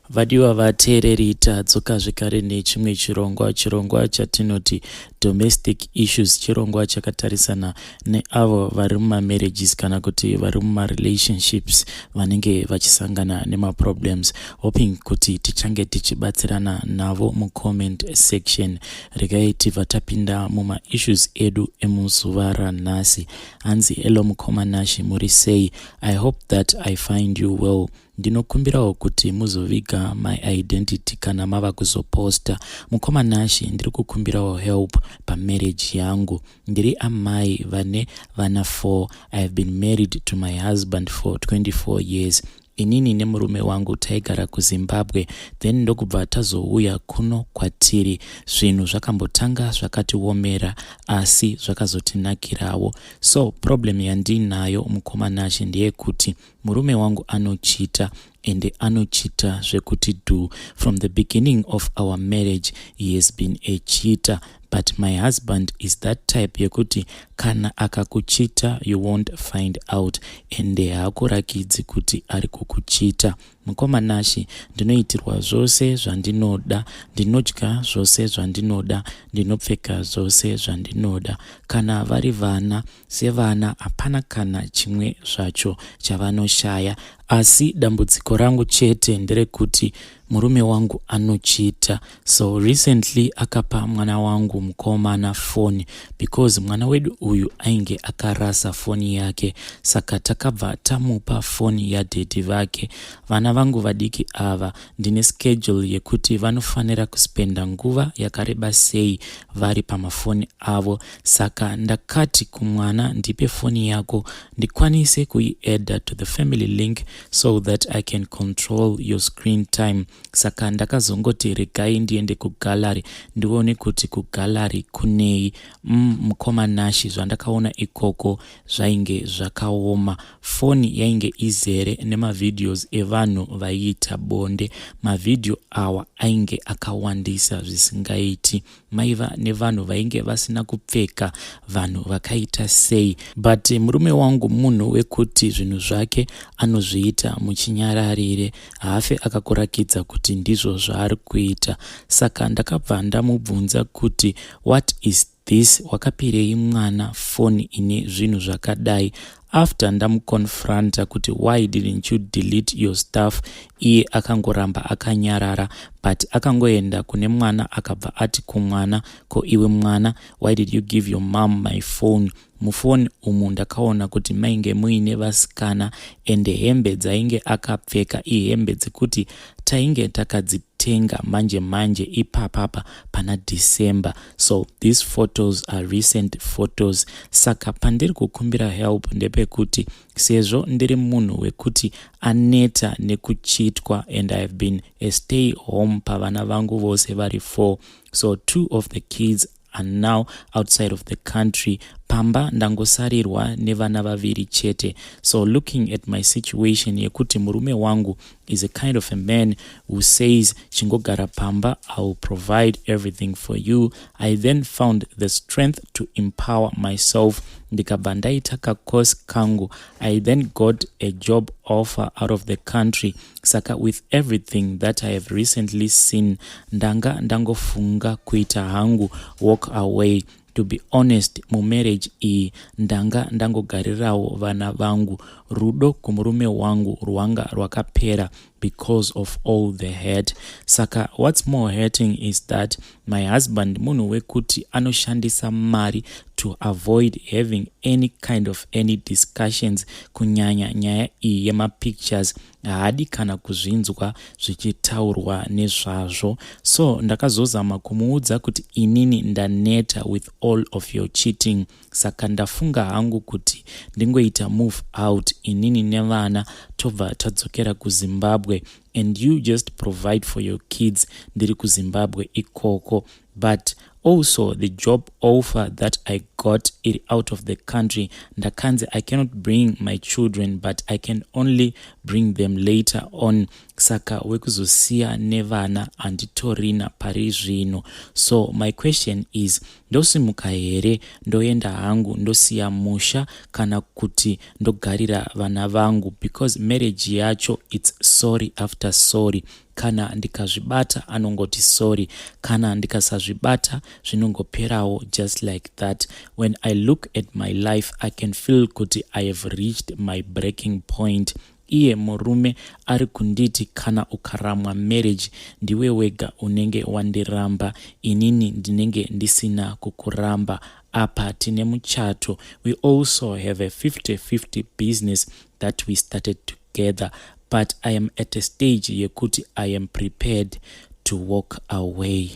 Vadiwa vateereri tadzoka zvekare nechimwe chirongwa chirongwa chatinoti domestic issues chirongwa chakatarisana neavo vari mumamarriages kana kuti vari mumarelationships vanenge vachisangana nemaproblems hoping kuti tichange tichibatsirana navo mucomment section regai tibva tapinda mumaissues edu emuzuva ranhasi hanzi hello mukoma nashi muri sei i hope that i find you well Ndinokumbirawo kuti muzoviga my identity kana mava kuzoposta. Mukoma Nashy ndiri kukumbirawo help pamarriage yangu. Ndiri amai vane vana four. I have been married to my husband for 24 years. Inini nemurume wangu taigara kuZimbabwe then ndokubva tazouya kuno kwatiri. Zvinhu zvakambotanga zvakatiomera asi zvakazotinakirawo. So problem yandiinayo mukoma Nashy ndeyekuti murume wangu anochita ende anochita zvekuti do from the beginning of our marriage he has been echita but my husband is that type yekuti kana akakuchita you won't find out ende haakurakidzi kuti ari kukuchita mukoma nashi ndinoitirwa zvose zvandinoda ndinodya zvose zvandinoda ndinopfeka zvose zvandinoda kana vari vana sevana hapana kana chimwe zvacho chavanoshaya asi dambudziko rangu chete nderekuti murume wangu anochita so recently akapa mwana wangu mukomana foni because mwana wedu uyu ainge akarasa foni yake saka takabva tamupa foni yadhedhi vake vana vangu vadiki ava ndine schedule yekuti vanofanira kuspenda nguva yakareba sei vari pamafoni avo saka ndakati kumwana ndipe foni yako ndikwanise kuiadda to the family link so that i can control your screen time saka ndakazongoti regai ndiende kugallery ndione kuti kugallery kunei mm, mukoma nashi zvandakaona ikoko zvainge zvakaoma foni yainge izere nemavideos evanhu vaiita bonde mavhidhiyo awa ainge akawandisa zvisingaiti maiva nevanhu vainge vasina kupfeka vanhu vakaita sei but murume wangu munhu wekuti zvinhu zvake anozviita muchinyararire haafe akakurakidza kuti ndizvo zvaari kuita saka ndakabva ndamubvunza kuti what is this wakapirei mwana foni ine zvinhu zvakadai after ndamuconfronta kuti why didn't you delete your stuff iye akangoramba akanyarara but akangoenda kune mwana akabva ati kumwana ko iwe mwana why did you give your mom my phone mufoni umu ndakaona kuti mainge muine vasikana ende hembe dzainge akapfeka ihembe dzekuti tainge takadzitenga manje manje ipapapa pana december so these photos are recent photos saka pandiri kukumbira help ndepekuti sezvo ndiri munhu wekuti aneta nekuchitwa and ihave been a stay home pavana vangu vose vari four so two of the kids are now outside of the country pamba ndangosarirwa nevana vaviri chete so looking at my situation yekuti murume wangu is a kind of a man who says chingogara pamba i will provide everything for you i then found the strength to empower myself ndikabva ndaita kacourse kangu i then got a job offer out of the country saka with everything that i have recently seen ndanga ndangofunga kuita hangu walk away To be honest mumarriage iyi ndanga ndangogarirawo vana vangu. Rudo kumurume wangu rwanga rwakapera because of all the hurt. Saka what's more hurting is that my husband munhu wekuti anoshandisa mari to avoid having any kind of any discussions kunyanya nyaya iyi yemapictures haadi kana kuzvinzwa zvichitaurwa nezvazvo so ndakazozama kumuudza kuti inini ndaneta with all of your cheating saka ndafunga hangu kuti ndingoita move out inini nevana tobva tadzokera kuzimbabwe and you just provide for your kids ndiri kuzimbabwe ikoko but also the job offer that i got iri out of the country ndakanzi i cannot bring my children but i can only bring them later on saka wekuzosiya nevana handitorina pari zvino so my question is ndosimuka here ndoenda hangu ndosiya musha kana kuti ndogarira vana vangu because marriage yacho its sorry after sorry kana ndikazvibata anongoti sorry kana ndikasazvibata zvinongoperawo just like that when i look at my life i can feel kuti i have reached my breaking point iye murume ari kunditi kana ukaramwa marriage ndiwe wega unenge wandiramba inini ndinenge ndisina kukuramba apa tine muchato we also have a 50 50 business that we started to together but i am at a stage yekuti i am prepared to walk away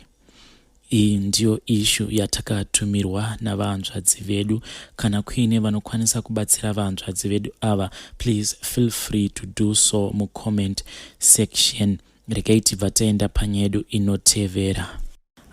iyi ndiyo ishu yatakatumirwa navanzvadzi vedu kana kuine vanokwanisa kubatsira vanzvadzi vedu ava please feel free to do so mucomment section regai tibva taenda panyedu inotevera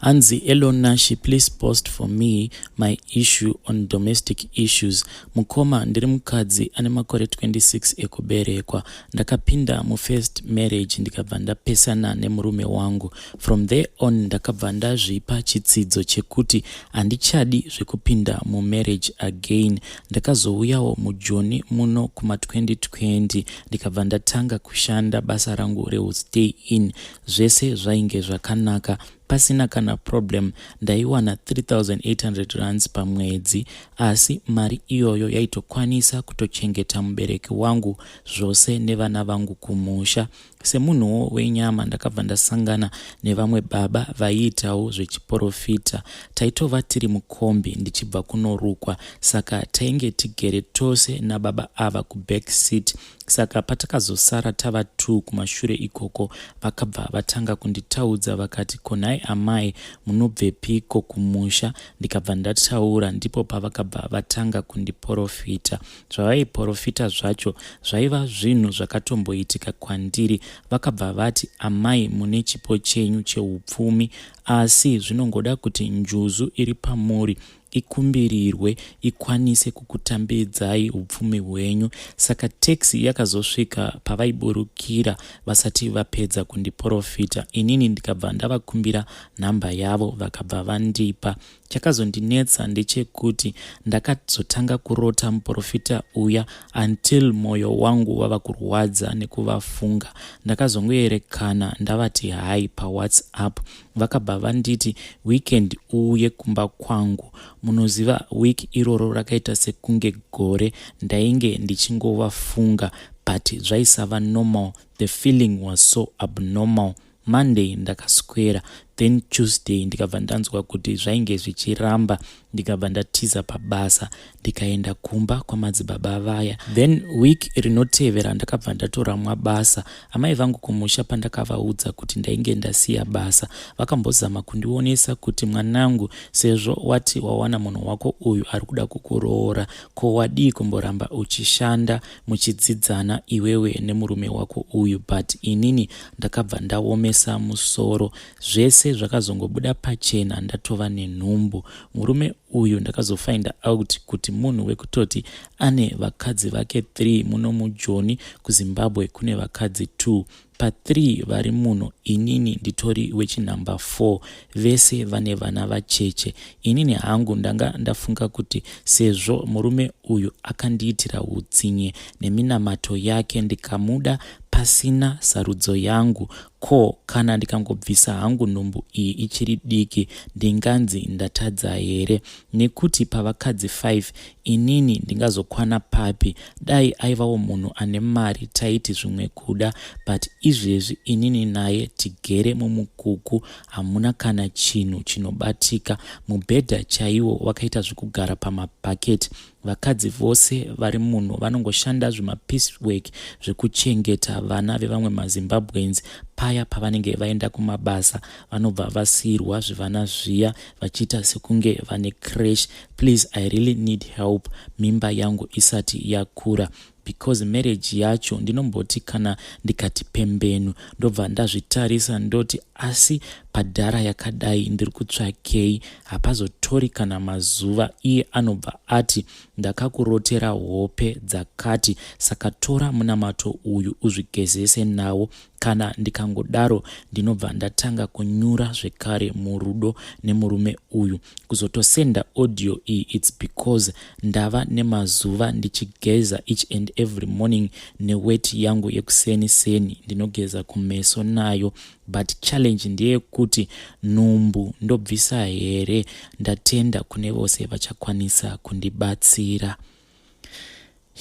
hanzi elon nashi please post for me my issue on domestic issues mukoma ndiri mukadzi ane makore 26 ekuberekwa ndakapinda mufirst marriage ndikabva ndapesana nemurume wangu from there on ndakabva ndazvipa chitsidzo chekuti handichadi zvekupinda mumarriage again ndakazouyawo mujoni muno kuma 2020 ndikabva ndatanga kushanda basa rangu reustay in zvese zvainge zvakanaka pasina kana problem ndaiwana 3800 rands pamwedzi asi mari iyoyo yaitokwanisa kutochengeta mubereki wangu zvose nevana vangu kumusha semunhuwo wenyama ndakabva ndasangana nevamwe baba vaiitawo zvechiporofita taitova tiri mukombi ndichibva kunorukwa saka tainge tigere tose nababa ava kuback seat saka patakazosara tava two kumashure ikoko vakabva vatanga kunditaudza vakati konhai amai munobvepiko kumusha ndikabva ndataura ndipo pavakabva vatanga kundiporofita zvavaiporofita zvacho zvaiva zvinhu zvakatomboitika kwandiri vakabva vati amai mune chipo chenyu cheupfumi Asi zvinongoda kuti njuzu iri pamuri ikumbirirwe ikwanise kukutambidzai upfumi hwenyu. Saka taxi yakazosvika pavaiburukira vasati vapedza kundiporofita inini ndikabva ndavakumbira nhamba yavo vakabva vandipa. Chakazondinetsa ndechekuti ndakazotanga kurota muporofita uya until moyo wangu wava kurwadza nekuvafunga. Ndakazongoerekana ndavati hi pawhatsapp vakabva vanditi weekend uuye kumba kwangu. Munoziva week iroro rakaita sekunge gore ndainge ndichingovafunga but zvaisava normal. The feeling was so abnormal. Monday ndakaswera then Tuesday ndikabva ndanzwa kuti zvainge zvichiramba ndikabva ndatiza pabasa ndikaenda kumba kwamadzibaba vaya then week rinotevera ndakabva ndatoramwa basa amai vangu kumusha pandakavaudza kuti ndainge ndasiya basa vakambozama kundionesa kuti mwanangu sezvo wati wawana munhu wako uyu ari kuda kukuroora ko wadii kumboramba uchishanda muchidzidzana iwewe nemurume wako uyu but inini ndakabva ndaomesa musoro zvese zvakazongobuda pachena ndatova nenhumbu murume uyu ndakazofinda out kuti munhu wekutoti ane vakadzi vake 3 muno mujoni kuzimbabwe kune vakadzi 2 pa3 vari muno inini nditori wechinumber 4 vese vane vana vacheche inini hangu ndanga ndafunga kuti sezvo murume uyu akandiitira utsinye neminamato yake ndikamuda Pasina sarudzo yangu, ko kana ndikangobvisa hangu nhumbu iyi ichiri diki ndinganzi ndatadza here? Nekuti pavakadzi five inini ndingazokwana papi? Dai aivawo munhu ane mari taiti zvimwe kuda but izvezvi inini naye tigere mumukuku hamuna kana chinhu chinobatika. Mubhedha chaiwo wakaita zvekugara pamabhaketi Vakadzi vose vari muno vanongoshanda zvimapeace work zvekuchengeta vana vevamwe maZimbabweans paya pavanenge vaenda kumabasa vanobva vasiirwa zvivana zviya vachiita sekunge vane crash please i really need help mimba yangu isati yakura because marriage yacho ndinomboti kana ndikati pembenu ndobva ndazvitarisa ndoti asi padhara yakadai ndiri kutsvakei hapazotori kana mazuva iye anobva ati ndakakurotera hope dzakati saka tora munamato uyu uzvigezese nawo Kana ndikangodaro ndinobva ndatanga kunyura zvekare murudo nemurume uyu. Kuzotosenda audio iyi it's because ndava nemazuva ndichigeza each and every morning newet yangu yekuseni seni ndinogeza kumeso nayo but challenge ndeyekuti nhumbu ndobvisa here? Ndatenda kune vose vachakwanisa kundibatsira.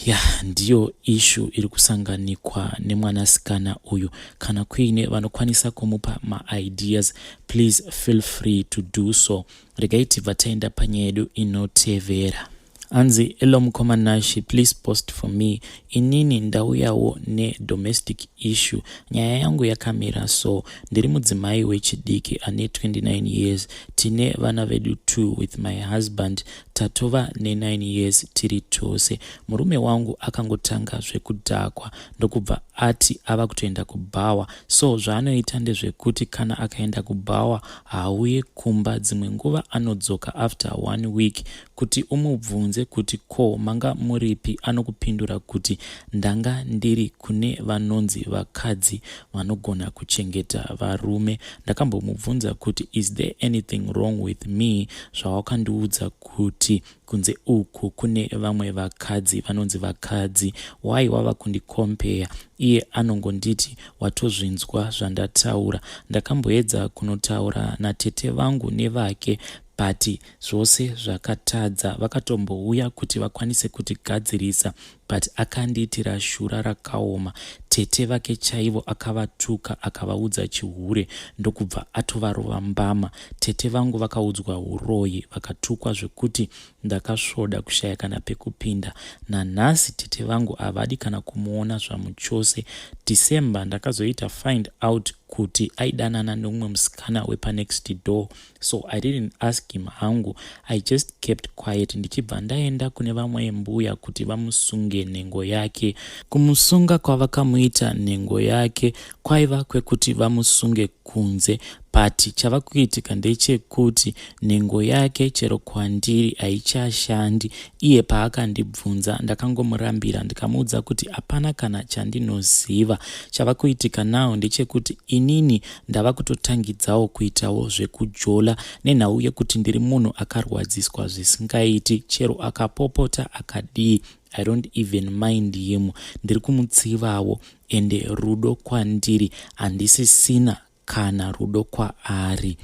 ya ndiyo ishu iri kusanganikwa nemwanasikana uyu kana kuine vanokwanisa kumupa maideas please feel free to do so regai tibva taenda panyaya yedu inotevera hanzi elo mukoma nashe please post for me inini ndauyawo nedomestic issue nyaya yangu yakamira so ndiri mudzimai wechidiki ane 29 years tine vana vedu two with my husband tatova ne9 years tiri tose murume wangu akangotanga zvekudhakwa ndokubva ati ava kutoenda kubhawa so zvaanoita ndezvekuti kana akaenda kubhawa haauye kumba dzimwe nguva anodzoka after one week kuti umubvunze kuti ko manga muripi anokupindura kuti ndanga ndiri kune vanonzi vakadzi vanogona kuchengeta varume ndakambomubvunza kuti is there anything wrong with me zvawakandiudza kuti kunze uku kune vamwe vakadzi vanonzi vakadzi why wava kundikompeya iye anongonditi watozvinzwa zvandataura ndakamboedza kunotaura natete vangu nevake but zvose zvakatadza vakatombouya kuti vakwanise kutigadzirisa but akandiitira shura rakaoma tete vake chaivo akavatuka akavaudza chihure ndokubva atovarova mbama tete vangu vakaudzwa uroyi vakatukwa zvekuti ndakasvoda kushaya kana pekupinda nanhasi tete vangu havadi kana kumuona zvamuchose december ndakazoita find out kuti aidanana neumwe musikana wepanext door so i didn't ask him hangu i just kept quiet ndichibva ndaenda kune vamwe mbuya kuti vamusunge nhengo yake kumusunga kwavakamuita nhengo yake kwaiva kwekuti vamusunge kunze but chava kuitika ndechekuti nhengo yake chero kwandiri haichashandi iye paakandibvunza ndakangomurambira ndikamuudza kuti hapana kana chandinoziva chava kuitika now ndechekuti inini ndava kutotangidzawo kuitawo zvekujola nenhau yekuti ndiri munhu akarwadziswa zvisingaiti chero akapopota akadii i don't even mind him ndiri kumutsivawo ende rudo kwandiri handisisina kana rudo kwaari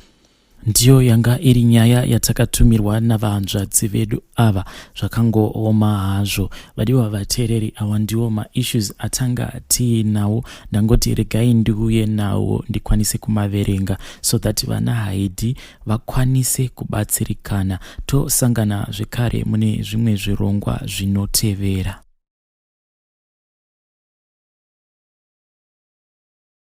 Ndiyo yanga iri nyaya yatakatumirwa navahanzvadzi vedu ava zvakangooma hazvo vadiwa vateereri awa ndiwo maissues atanga tiinawo ndangoti regai ndiuye nawo ndikwanise kumaverenga so that vana haidi vakwanise kubatsirikana tosangana zvekare mune zvimwe zvirongwa zvinotevera